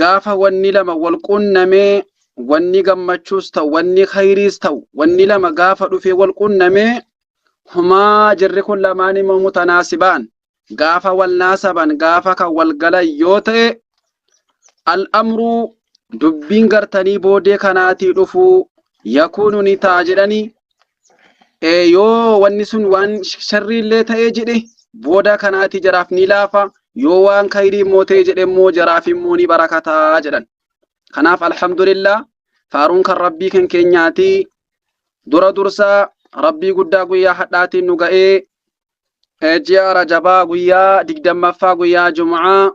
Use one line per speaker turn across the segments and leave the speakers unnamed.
Gaafa wanni lama wal quunnamee wanni gammachuus ta'u wanni khayriis ta'u wanni lama gaafa dhufee wal quunnamee humaa jirri kun lamaan immoo mutanaasibaan gaafa wal naasaban gaafa kan wal galan yoo ta'e al-amruu dubbiin gartanii boodee kanaatii dhufuu yakuunu ni ta'a jedhanii yoo wanni sun waan sharrii illee ta'ee jedhe booda kanaati jaraaf ni laafa yoo waan kayrii immoo ta'e jedhe immoo jaraaf immoo ni barakataa jedhan kanaaf alhamdulillah faaruun kan rabbii kan keenyaati dura dursaa rabbii guddaa guyyaa hadhaatiin nu ga'ee ji'a rajabaa guyyaa digdammaffaa guyyaa jum'aa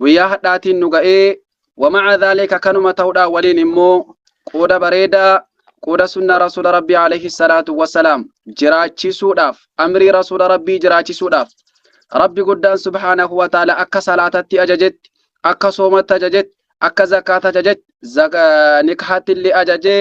guyyaa hadhaatiin nu ga'ee wamaca dhaalika kanuma ta'uudhaa waliin immoo qooda bareedaa qooda sunnaa rasuula rabbii alayhi salaatu wasalaam jiraachisuudhaaf amrii rasuula rabbii jiraachisuudhaaf rabbi guddaan subhaanahu wa ta'ala akka salaatatti ajajetti akka soomatti ajajetti akka zakaata ajajetti nikhaatti illee ajajee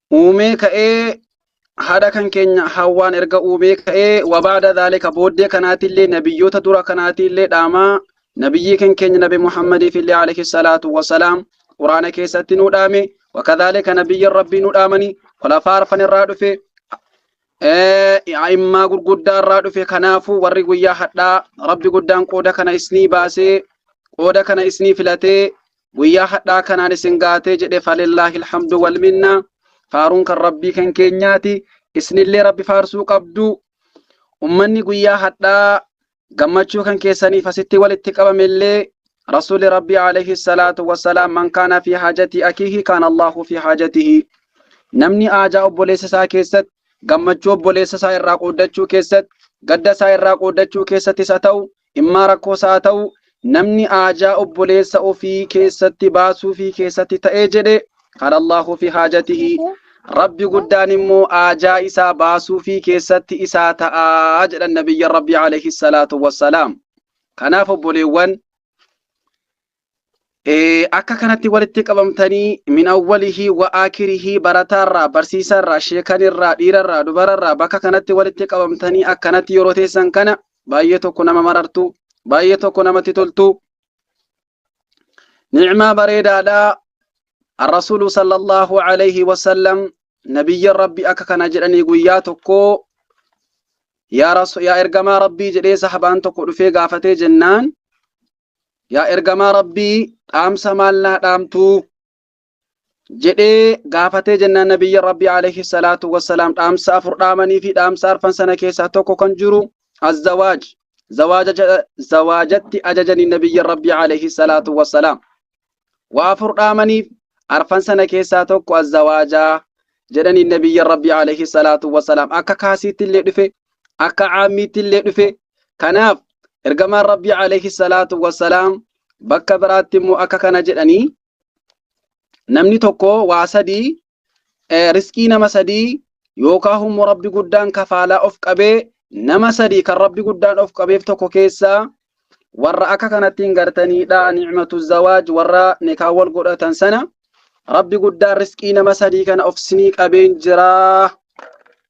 uumee ka'ee haadha kan keenya hawwaan erga uumee ka'ee wabaada dhaalika booddee kanaatiillee nabiyyoota dura kanaatiillee dhaamaa nabiyyii kan keenya nabi muhammadiif illee alayhi salaatu wasalaam quraana keessatti nu dhaame wakadhaalika nabiyyan rabbii nu dhaamanii kulafaa arfan irraa dhufe a'immaa gurguddaa irraa dhufe kanaafuu warri guyyaa hadhaa rabbi guddaan qooda kana isnii baasee qooda kana isnii filatee guyyaa hadhaa kanaan isin gaatee jedhe falillaahi alhamdu wal minnaa faaruun kan rabbii kan keenyaati isinillee rabbi faarsuu qabdu ummanni guyyaa hadhaa gammachuu kan keessaniif asitti walitti qabamellee rasuuli rabbii alayhi salaatu wassalaam man kaana fi haajatii akiihi kaana allaahu fi haajatihi namni aajaa obboleessa isaa keessatti gammachuu obboleessa isaa irraa qooddachuu keessatti gadda isaa irraa qooddachuu keessattis haa ta'u Dhimmaa rakkoos haa ta'u namni haajaa obboleessa ofii keessatti baasuufii keessatti ta'ee jedhe qaala Allaahu fi haajatihi Rabbi guddaan immoo haajaa isaa baasuufii keessatti isaa ta'aa jedhan nabiyyan Rabbi alayhi salaatu wassalaam. Kanaaf obboleewwan Eh, akka kanatti walitti qabamtanii min awwalihii wa aakirihii barataarraa barsiisaarraa sheekanirraa dhiirarraa dubararraa bakka kanatti walitti qabamtanii akkanatti yeroo teessan kana baay'ee tokko nama marartu baay'ee tokko namatti toltu ni'maa bareedaadha arrasuulu sallallahu alayhi wasallam nabiyyan rabbi akka kana jedhanii guyyaa tokko yaa rasu- yaa ergamaa rabbii jedhee sahabaan tokko dhufee gaafatee jennaan yaa ergamaa rabbii dhaamsa maal naa dhaamtuu jedhee gaafatee jennaan nabiyyi rabbii alayhi salaatu wassalaam dhaamsa afur dhaamanii fi dhaamsa arfan sana keessaa tokko kan jiru azzawaaj zawaajatti ajajanii nabiyyi rabbii alayhi salaatu wassalaam waa afur dhaamaniif arfan sana keessaa tokko azzawaajaa jedhaniin nabiyyan rabbii alayhi salaatu wasalaam akka kaasiitti illee dhufe akka caammiitti illee dhufe kanaaf ergamaan rabbii alayhi salaatu wasalaam bakka biraatti immoo akka kana jedhanii namni tokko waa sadii riskii nama sadii yookaa hummo rabbi guddaan kafaalaa of qabee nama sadii kan rabbi guddaan of qabeef tokko keessaa warra akka kanattiin gartaniidha ni'matu zawaaj warra nikaa wal godhatan sana rabbi guddaan riskii nama sadii kana of sinii qabeen jira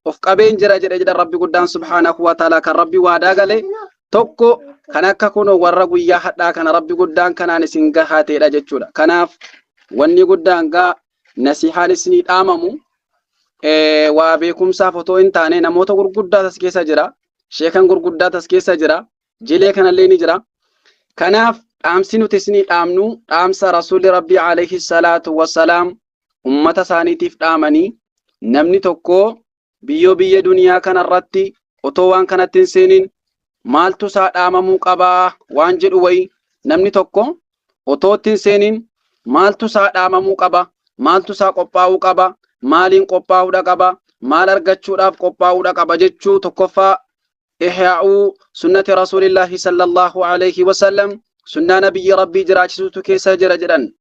of qabeen jira jedhe jedha rabbi guddaan subhaanahu wa ta'ala kan rabbi waadaa gale tokko kan akka kun warra guyyaa hadhaa kana rabbi guddaan kanaan isin gahateedha jechuudha kanaaf wanni guddaan gaa nasihaan isinii dhaamamu waa beekumsaaf otoo hin taane namoota gurguddaa tas keessa jira. Sheekan gurguddaa tas keessa jira. Jilee kanallee ni jira. Kanaaf dhaamsi nuti isinii dhaamnu dhaamsa Rasuulli Rabbii alayhi salaatu wassalaam ummata isaaniitiif dhaamanii namni tokko Biyyoo biyya duniyaa kanarratti otoo waan kanatti hin seeniin maaltu isaa dhaamamuu qabaa waan jedhu wayi namni tokko otoo itti hin seeniin maaltu isaa dhaamamuu qaba maaltu isaa qophaa'uu qaba maaliin qophaa'uudha qaba maal argachuudhaaf qophaa'uudha qaba jechuu tokkoffaa ihyaa'uu sunnati rasuulillaahi sallallahu alayhi wasallam sunnaa nabiyyi rabbii jiraachisuutu keessa jira jedhan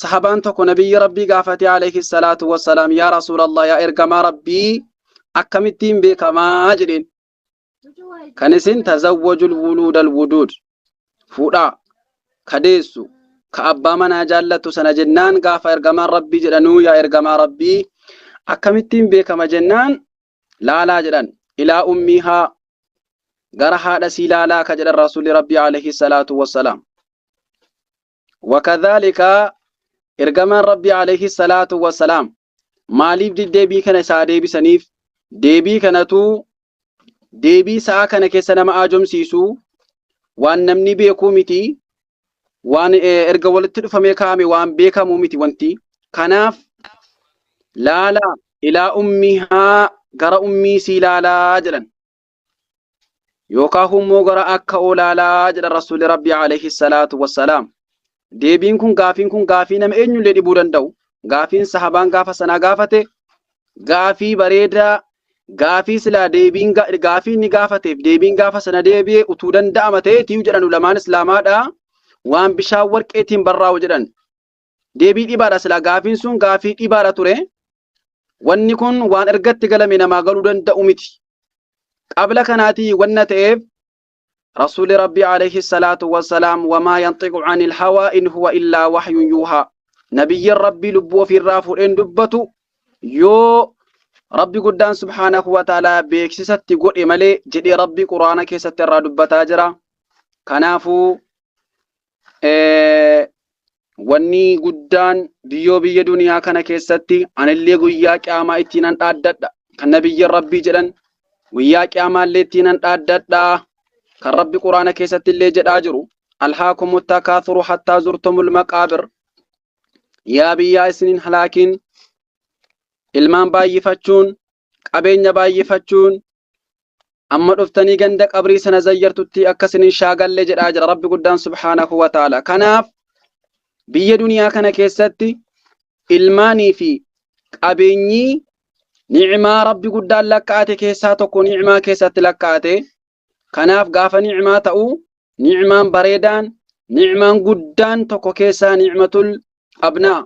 sahabaan tokko nabiyyi rabbii gaafate alayhi salaatu wassalaam yaa rasuulallah yaa ergamaa rabbii akkamittiin beekamaa jedheen kan isin tazawwajul wuluudal wuduud fuudhaa ka deessu ka abbaa manaa jaallattu sana jennaan gaafa ergamaan rabbii jedhanuu yaa ergamaa rabbii akkamittiin beekama jennaan laalaa jedhan ilaa ummiihaa gara haadha sii laalaa ka jedhan rasuulli rabbii alayhi salaatu wassalaam وكذلك ergamaan rabbii alayhi salaatu wassalaam maaliif deebii kana isaa deebisaniif deebii kanatu deebii sa'a kana keessa nama aajomsiisu waan namni beekuu miti waan eh, erga walitti dhufamee kaa'ame waan beekamu miti wanti kanaaf laala ilaa ummihaa gara ummii sii laalaa jedhan yookaan hummoo gara akka olaalaa jedha rasuulli rabbi alayhi salaatu wassalaam deebiin kun gaafiin kun gaafii nama eenyullee dhibuu danda'u gaafiin sahabaan gaafa sanaa gaafate gaafii bareedaa gaafii silaa deebiin gaafii inni gaafateef deebiin gaafa sana deebi'e utuu danda'ama ta'eetii jedhan ulamaan islaamaadha waan bishaan warqeetiin barraa'u jedhan Deebii dhibaadha silaa gaafiin sun gaafii dhibaadha ture. Wanni kun waan ergatti galame namaa galuu danda'u miti. Qabla kanaatii wanna ta'eef Rasuulli Rabbii alayhi salaatu wassalaam wamaa yanxiqu anil hawaa in huwa illaa wahyun yuuhaa. Nabiyyiin Rabbii lubbuu ofiirraa fuudheen dubbatu yoo Rabbi guddaan subhaanahu wa ta'aalaa beeksisatti godhe malee jedhee Rabbi Qur'aana keessatti irraa dubbataa jira. Kanaafuu Eh, wanni guddaan biyyoo biyya duniyaa kana keessatti anillee guyyaa qiyaamaa ittiin an dhaaddadha kan nabiyyiin rabbii jedhan guyyaa qiyaamaallee ittiin an dhaaddadha kan rabbi quraana keessatti illee jedhaa jiru alhaakumu takaathuru hattaa zurtumul maqaabir yaa biyyaa isinin halaakiin ilmaan baay'ifachuun qabeenya baay'ifachuun amma dhuftanii ganda qabrii sana zayyartutti akka isin hin shaagalle jedhaa jira rabbi guddaan subhaanahu wa ta'ala kanaaf biyya duniyaa kana keessatti ilmaanii fi qabeenyii ni'imaa rabbi guddaan lakkaa'ate keessaa tokko ni'imaa keessatti lakkaa'ate Kanaaf gaafa ni'maa ta'u ni'maan bareedaan, ni'maan guddaan tokko keessaa ni'matul abnaa,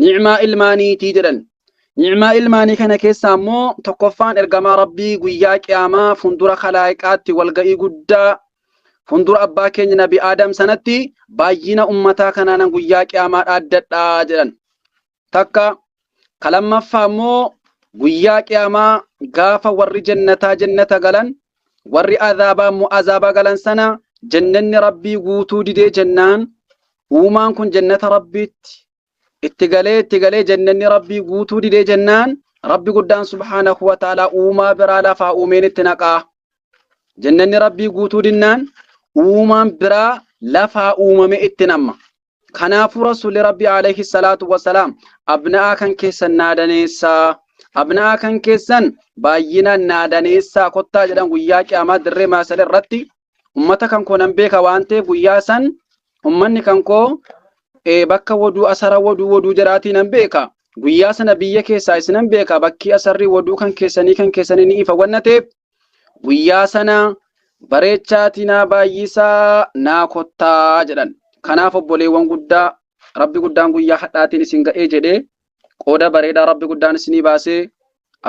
ni'maa ilmaaniitii jedhan. Ni'maa ilmaanii kana keessaa immoo tokkoffaan ergamaa Rabbii guyyaa qiyaamaa fundura kalaayiqaatti walga'ii guddaa fundura abbaa keenya nabi Aadam sanatti baay'ina ummataa kanaanan guyyaa qiyaamaa dhaaddadhaa jedhan. Takka, ka lammaffaa immoo guyyaa qiyaamaa gaafa warri jannataa jannata galan, warri azaabaa immoo azaaba galan sana jannanni Rabbii guutuu didee jennaan uumaan kun jannata Rabbiitti itti galee itti galee jannanni Rabbii guutuu didee jennaan Rabbi guddaan subhaanahu wa ta'aalaa uumaa biraa lafaa uumeen itti naqaa. Jannanni Rabbii guutuu dinnaan uumaan biraa lafaa uumame itti namma. Kanaafuu Rasuulli Rabbii alayhi salaatu wassalaam abna'aa kan keessan naa daneessaa abna'aa kan keessan baay'inaan naa daneessaa kottaa jedhan guyyaa qiyaamaa dirree maasala irratti ummata kan koo nan beeka waan ta'eef guyyaa san ummanni kan koo eh, bakka woduu asara woduu woduu jedhaatii nan beeka guyyaa sana biyya keessaa isinan beeka bakkii asarrii woduu kan keessanii kan keessanii ni ifa wanna ta'eef Guyyaa sana bareechaatii naa baay'isaa naa kottaa jedhan. Kanaaf obboleewwan guddaa Rabbi guddaan guyyaa hadhaatiin isin ga'ee jedhee qooda bareedaa Rabbi guddaan isinii baasee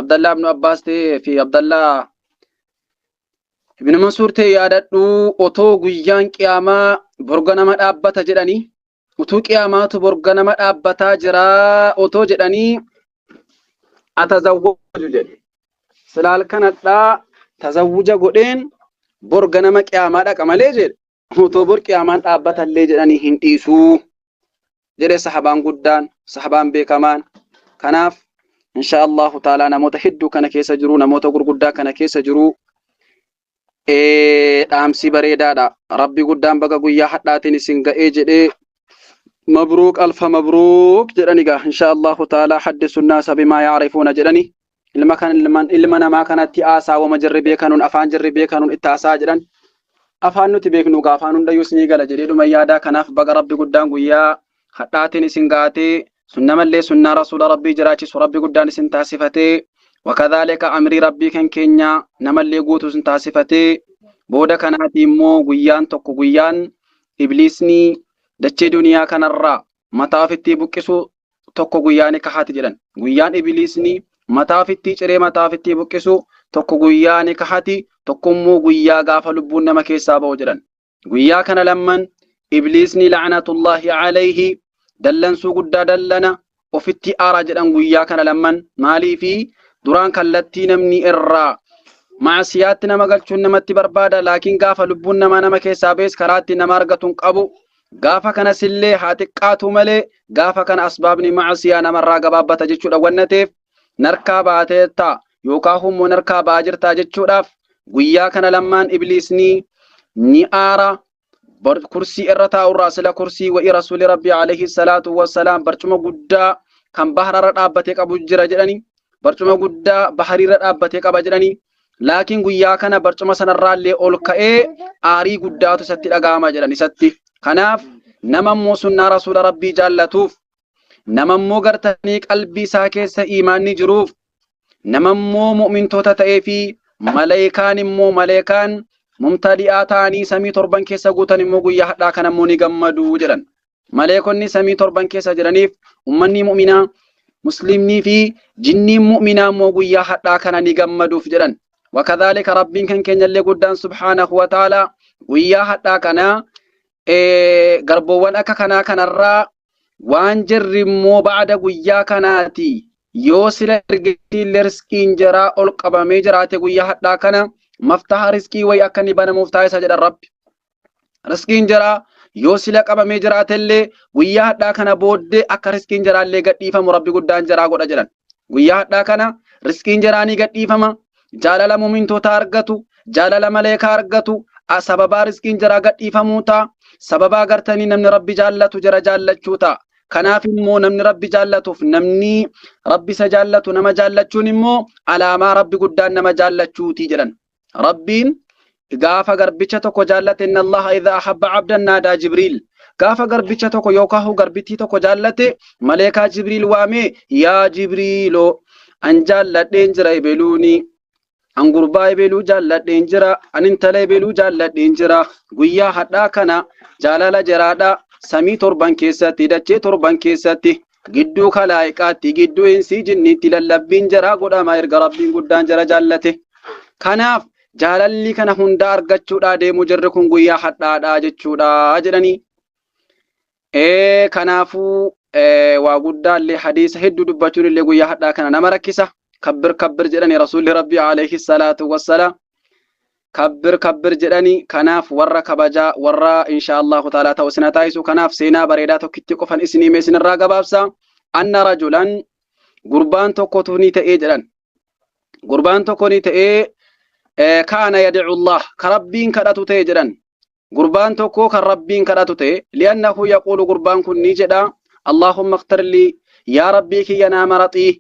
Abdallaa ibnu Abbaas ta'ee fi Abdallaa ibnu Mansuur ta'e yaadadhuu otoo guyyaan qiyaamaa borga nama dhaabbata jedhanii utuu qiyaamaatu bor ganama dhaabbataa jiraa otoo jedhanii atazawwaju jedhe sila halkanadhaa tazawwuja godheen bor ganama qiyaamaa dhaqa malee jedhe otoo bor qiyaamaan dhaabbatallee jedhanii hin dhiisuu jedhe sahabaan guddaan sahabaan beekamaan kanaaf insha Allahu taalaa namoota hedduu kana keessa jiru namoota gurguddaa kana keessa jiru Ee, dhaamsii bareedaadha. Rabbi guddaan baga guyyaa hadhaatiin isin ga'ee jedhee mabruuk alfa mabruuk jedhani gaa insha Allahu ta'ala haddi sunnaa sabimaa yaarifuuna jedhani ilma kan ilman ilma namaa kanatti haasaa wama jirri beekanuun afaan jirri beekanuun itti haasaa jedhan afaan nuti beeknu gaa afaan hundayyuu isinii gala jedhee dhuma yaadaa kanaaf baga rabbi guddaan guyyaa hadhaatiin isin ga'atee sunna mallee sunnaa rasuula rabbii jiraachisu rabbi guddaan isin taasifatee wakadhaalika amrii rabbii kan keenya namallee guutu isin taasifatee booda kanaatii immoo guyyaan tokko guyyaan ibliisni dachee duniyaa kanarraa mataa ofittii buqqisu tokko guyyaa ni kahaati jedhan guyyaan ibliisni mataa ofittii ciree mataa ofittii buqqisu tokko guyyaa ni kahaati tokko immoo guyyaa gaafa lubbuun nama keessaa ba'u jedhan Guyyaa kana lamman ibliisni la'anatullaahi alayhi dallansuu guddaa dallana ofitti aaraa jedhan guyyaa kana lamman maaliifi duraan kallattii namni irraa maasiyaatti nama galchuun namatti barbaada laakiin gaafa lubbuun namaa nama keessaa bees karaatti nama argatuun qabu gaafa kanas illee haa xiqqaatu malee gaafa kana asbaabni maasiyaa namarraa gabaabbata jechuudha wanna ta'eef narkaa baateettaa yookaa hummoo narkaa ba'aa jirtaa jechuudhaaf guyyaa kana lammaan ibliisnii ni aara bar- kursii irra taa'urraa sila kursii wa'i rasuuli rabbii alayhi salaatu wassalaam barcuma guddaa kan bahararra dhaabbatee qabu jira jedhani barcuma guddaa bahariirra dhaabbatee qaba jedhani laakiin guyyaa kana barcuma sanarraallee ol ka'ee aarii guddaatu isatti dhaga'ama jedhan isatti kanaaf nama immoo sunnaa rasuula rabbii jaallatuuf nama immoo gartanii qalbii isaa keessa iimaanni jiruuf nama immoo mu'mintoota ta'ee fi maleekaan immoo maleekaan mumtadi'aa ta'anii samii torban keessa guutan immoo guyyaa hadhaa kana immoo ni gammadu jedhan. Maleekonni samii torban keessa jiraniif ummanni mu'minaa muslimnii fi jinniin mu'minaa immoo guyyaa hadhaa kana ni gammaduuf jedhan. Wakadhaalika rabbiin kan keenyallee guddaan subhaanahu wa ta'ala guyyaa hadhaa kana garboowwan akka kanaa kanarraa waan jirri immoo ba'ada guyyaa kanaati yoo sila ergeetiin lersqiin jaraa ol qabamee jiraate guyyaa hadhaa kana maftaha risqii wayi akka ni banamuuf taasisa jedha rabbi risqiin jaraa yoo sila qabamee jiraatellee guyyaa hadhaa kana booddee akka risqiin jaraallee gadhiifamu rabbi guddaan jaraa godha jedhan Guyyaa hadhaa kana risqiin jaraa ni gadhiifama, jaalala mu'mintootaa argatu, jaalala maleekaa argatu, a sababaa risqiin jaraa gadhiifamuu ta'a, sababaa gartanii namni Rabbi jaallatu jara jaallachuu ta'a. Kanaaf immoo namni Rabbi jaallatuuf namni Rabbi isa jaallatu nama jaallachuun immoo alaamaa Rabbi guddaan nama jaallachuuti jedhan. rabbiin gaafa garbicha tokko jaallate inna allaha idha ahabba abdan naadaa jibriil gaafa garbicha tokko yookaan hoo garbittii tokko jaallate maleekaa jibriil waamee yaa jibriiloo an jaalladheen jira ebeluunii an gurbaa ebeluu jaalladheen jira an intala ebeluu jaalladheen jira guyyaa hadhaa kana jaalala jiraadha samii torban keessatti dachee torban keessatti gidduu kalaa'iqaatti gidduu insii jinniitti lallabbiin jaraa godhama erga rabbiin guddaan jara jaallate kanaaf jaalalli kana hunda argachuudhaa deemu jirri kun guyyaa hadhaadhaa jechuudha jedhanii ee kanaafuu waa guddaallee hadiisa hedduu dubbachuun illee guyyaa hadhaa kana nama rakkisa kabbir kabbir jedhani rasuulli rabbii alayhi salaatu wassalaam Kabbir kabbir jedhani kanaaf warra kabajaa warra inshaa Allahu ta'ala ta'u isin hataayisu kanaaf seenaa bareedaa tokkitti qofan isin hime isinirraa gabaabsa anna rajulan gurbaan tokkotu ni ta'ee jedhan gurbaan tokko ni ta'ee kaana yad'u Allah ka rabbiin kadhatu ta'e jedhan gurbaan tokko kan rabbiin kadhatu ta'e li'annahu yaquulu gurbaan kun ni jedha Allahumma iqtirlii yaa rabbii kiyya naa maraxii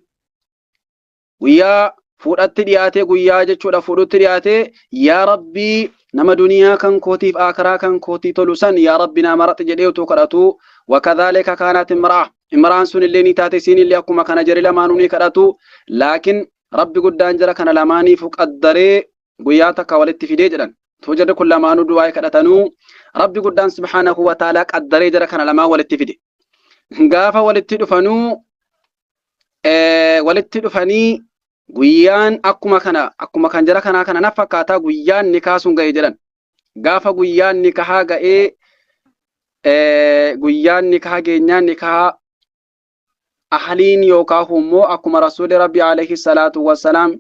guyyaa fuudhatti dhiyaatee guyyaa jechuudha fuudhutti dhiyaatee yaa rabbii nama duniyaa kan kootiif aakaraa kan kootii tolu san yaa rabbi naa maraxi jedhee utuu kadhatu wakadhaalika kaanaat imra'a imraan sun illee ni taate isiin illee akkuma kana jari lamaanuu ni kadhatu laakiin rabbi guddaan jara kana lamaaniifu qaddaree guyyaa takka walitti fidee jedhan too jarri kun lamaanuu du'aa kadhatanuu rabbi guddaan subhaanahu wa ta'aalaa qaddaree jara kana lamaan walitti fide gaafa walitti dhufanuu eh, walitti dhufanii guyyaan akkuma kana akkuma kan jara kanaa kana na fakkaataa guyyaan nikaa sun ga'e jedhan gaafa guyyaan nikahaa ga'ee eh, guyyaan nikahaa geenyaan nikahaa ahaliin yookaan immoo akkuma rasuulli rabbi alayhi salaatu wassalaam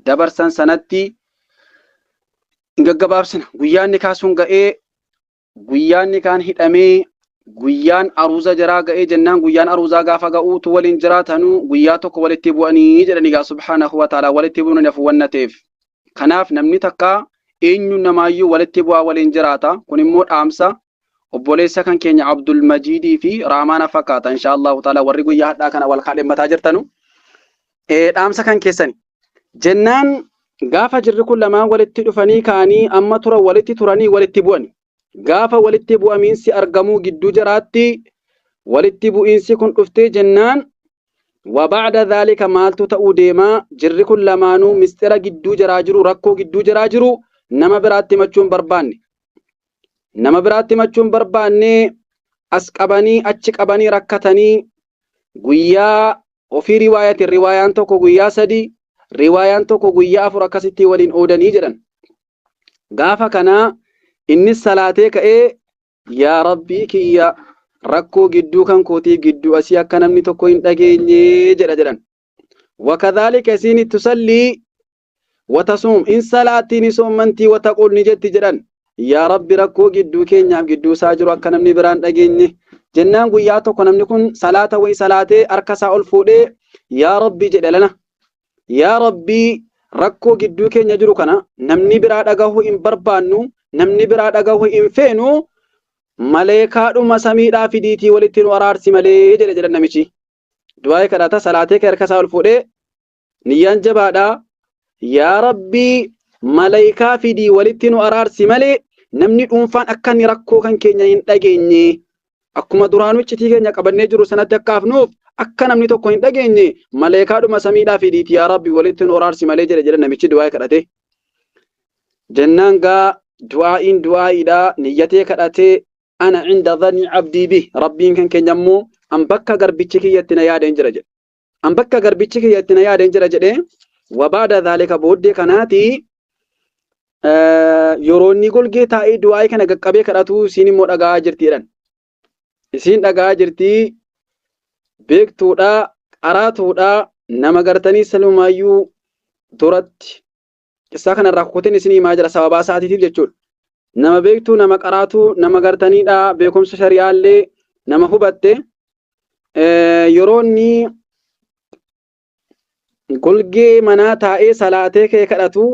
dabarsan sanatti hin gaggabaabsina guyyaan nikaa sun ga'ee Guyyaan nikaan hidhamee guyyaan aruuza jaraa ga'ee jennaan guyyaan aruuzaa gaafa ga'u utuu waliin jiraatanu guyyaa tokko walitti bu'anii jedhani gaa subhaanahu wa ta'ala walitti bu'uun hin hafu wanna ta'eef. Kanaaf namni takka eenyuun namaayyuu walitti bu'aa waliin jiraata kun immoo dhaamsa obboleessa kan keenya Abdul Majiidii fi Raamaana fakkaata inshaa Allahu ta'ala warri guyyaa hadhaa kana wal kaadhimmataa jirtanu Eh, dhaamsa kan keessani. Jennaan gaafa jirri kun lamaan walitti dhufanii ka'anii amma tura walitti turanii walitti bu'ani. Gaafa walitti bu'amiinsi argamuu gidduu jaraatti walitti bu'iinsi kun dhuftee jennaan وبعد ذلك maaltu ta'uu deemaa jirri kun lamaanuu misxira gidduu jaraa jiru rakkoo gidduu jaraa jiru nama biraatti himachuun barbaanne nama biraatti himachuun barbaanne as qabanii achi qabanii rakkatanii guyyaa Wafii riwaayatin riwaayaan tokko guyyaa sadii riwaayaan tokko guyyaa afur akkasittii waliin oodanii jedhan. Gaafa kanaa innis salaatee ka'ee yaa rabbii kiyya rakkoo gidduu kan kootii gidduu asii akka namni tokko hin dhageenye jedha jedhan. Wakadhaalika isiin tusallii watasuum in salaattii ni soommantii wataquul ni jetti jedhan yaa rabbi rakkoo gidduu keenyaaf gidduu isaa jiru akka namni biraan dhageenye jennaan guyyaa tokko namni kun salaata wayi salaatee harka isaa ol fuudhee yaa rabbi jedhe lana yaa rabbii rakkoo gidduu keenya jiru kana namni biraa dhagahuu hin barbaannu namni biraa dhagahuu hin feenu maleekaadhuma samiidhaa fidiitii walitti nu araarsi malee jedhe jedhan namichi du'aa'ee kadhata salaatee kee harka isaa ol fuudhee niyyaan jabaadha yaa rabbii malaykaa fidii walitti nu araarsi malee namni dhuunfaan akka inni rakkoo kan keenya hin dhageenye akkuma duraanuu iccitii keenya qabannee jiru sanatti akka hafnuuf akka namni tokko hin dhageenye maleekaadhuma samiidhaa fidiiti yaa rabbi walitti nu araarsi malee jedhe jedhe namichi du'aa kadhate jennaan gaa du'aa'iin du'aa'iidha niyyatee kadhatee ana cinda dhanii abdii bi rabbiin kan keenya immoo an bakka garbichi kiyyatti na yaadeen jira jedhe an bakka garbichi kiyya itti na yaadeen jira jedhee wabaada dhaalika booddee kanaati yeroo inni golgee taa'ee du'aa'ee kana qaqqabee kadhatu isiin immoo dhaga'aa jirti jedhan. Isiin dhaga'aa jirti beektuudha qaraatuudha nama gartanii salumaayyuu duratti Qissaa kanarraa kukutiin isin himaa jira sababaa isaatiitiif jechuudha. Nama beektuu, nama qaraatuu, nama gartaniidha, beekumsa shari'aallee nama hubatte yeroo inni golgee manaa taa'ee salaatee kee kadhatu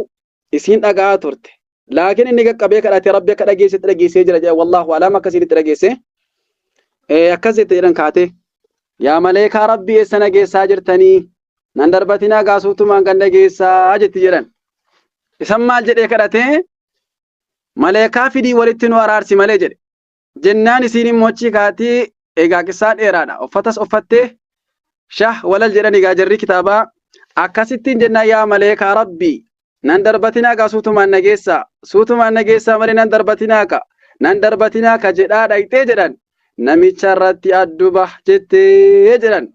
isiin dhaga'aa turte. Laakiin inni qaqqabee kadhate rabbi akka dhageessetti dhageessee jira jedha wallaahu alaam akkasiin itti dhageesse. Akkas jette jedhan kaatee. Yaa maleekaa rabbi eessa na geessaa jirtanii? nan darbatinaa gaasuutumaan ganda geessaa jetti jedhan. Isan maal jedhee kadhatee maleekaa fidii walitti nu araarsi malee jedhe. Jennaan isiin immoo achii kaatii egaa qissaa dheeraadha. Uffatas uffattee shah walal jedhan egaa jarri kitaabaa akkasittiin jennaan yaa maleekaa rabbii nan darbatinaa gaa suutumaan na geessaa suutumaan na geessaa malee nan darbatinaa ka nan darbatinaa ka jedhaa dhaqxee jedhan namicha irratti adduba jettee jedhan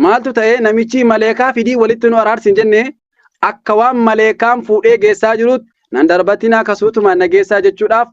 Maaltu ta'ee namichii maleekaa fidii walitti nu araarsi hin jennee akka waan maleekaan fuudhee geessaa jiruutti nan darbatinaa kasuutumaan na geessaa jechuudhaaf